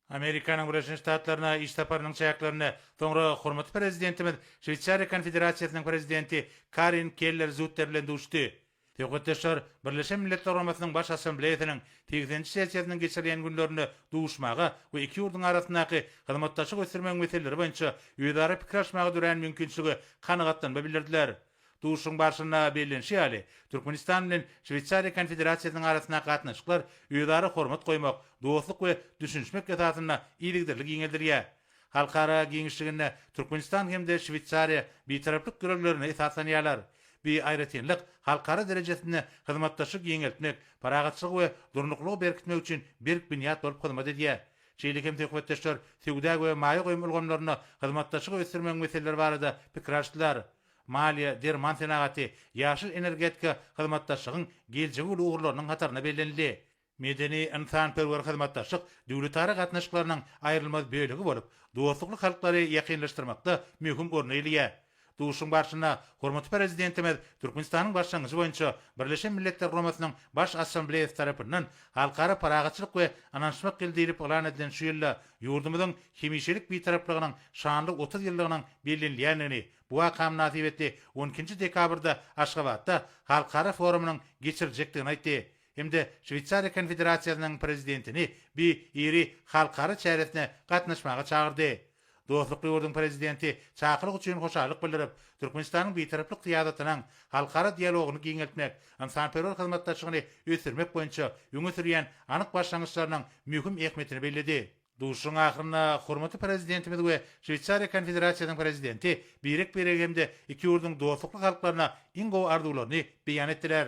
Amerikanyň Birleşen Ştatlaryna iş saparynyň çäklerinde, soňra hormatly Prezidentimiz Şweýsariýa Konfederasiýasynyň Prezidenti Karin Keller-Zutter bilen duşdy. Söhbetdeşler Birleşen Milletler Guramasynyň Baş Assambleýasynyň segseninji sessiýasynyň geçirilýän günlerinde duşmaga we iki ýurduň arasyndaky hyzmatdaşlyk ösdürmegiň meseleleri boýunça özara pikir alyşmaga dörän mümkinçilige kanagatlanma bildirdiler. Duşuşygyň barşynda bellenişi ýaly, Türkmenistan bilen Şweýsariýa Konfederasiýasynyň arasyndaky gatnaşyklar özara hormat goýmak, dostluk we düşünişmek esasynda yzygiderli giňeldilýär. Halkara giňişliginde Türkmenistan hem-de Şweýsariýa Bitaraplyk ýörelgelerine esaslanýarlar. Bi aýratynlyk halkara derejesinde hyzmatdaşlygy giňeltmek, parahatçylygy we durnuklylygy berkitmek üçin berk binýat bolup hyzmat edýär. Şeýle hem söhbetdeşler söwda we maýa goýum ulgamlarynda hyzmatdaşlygy ösdürmegiň meseleleri barada pikir alyşdylar. maliýe, derman senagaty, ýaşyl energetika hyzmatdaşlygyň geljegi uly ugurlarynyň hatarynda bellenildi. Medeni-ynsanperwer hyzmatdaşlyk döwletara gatnaşyklarynyň aýrylmaz bölegi bolup, dostlukly halklary ýakynlaşdyrmakda möhüm orny eýeleýär. Duşuşygyň barşynda hormatly Prezidentimiz Türkmenistanyň başlangyjy boýunça Birleşen Milletler Guramasynyň Baş Assambleýasy tarapyndan Halkara parahatçylyk we ynanyşmak ýyly diýlip yglan edilen şu ýylda Ýurdumyzyň hemişelik Bitaraplygynyň şanly otuz ýyllygynyň bellenilýändigini, bu waka mynasybetli on ikinji dekabrda Aşgabatda halkara forumynyň geçiriljekdigini aýtdy hem-de Şweýsariýa Konfederasiýasynyň Prezidentini bi iri halkara çäresine gatnaşmaga çagyrdy. Dostlukly ýurduň Prezidenti çakylyk üçin hoşallyk bildirip, Türkmenistanyň Bitaraplyk syýasatynyň halkara dialogyny giňeltmek, ynsanperwer hyzmatdaşlygyny ösdürmek boýunça öňe sürýän anyk başlangyçlarynyň möhüm ähmiýetini belledi. Duşuşygyň ahyrynda hormatly Prezidentimiz we Şweýsariýa Konfederasiýasynyň Prezidenti birek-birege hem-de iki ýurduň dostlukly halklaryna iň gowy arzuwlaryny beýan etdiler.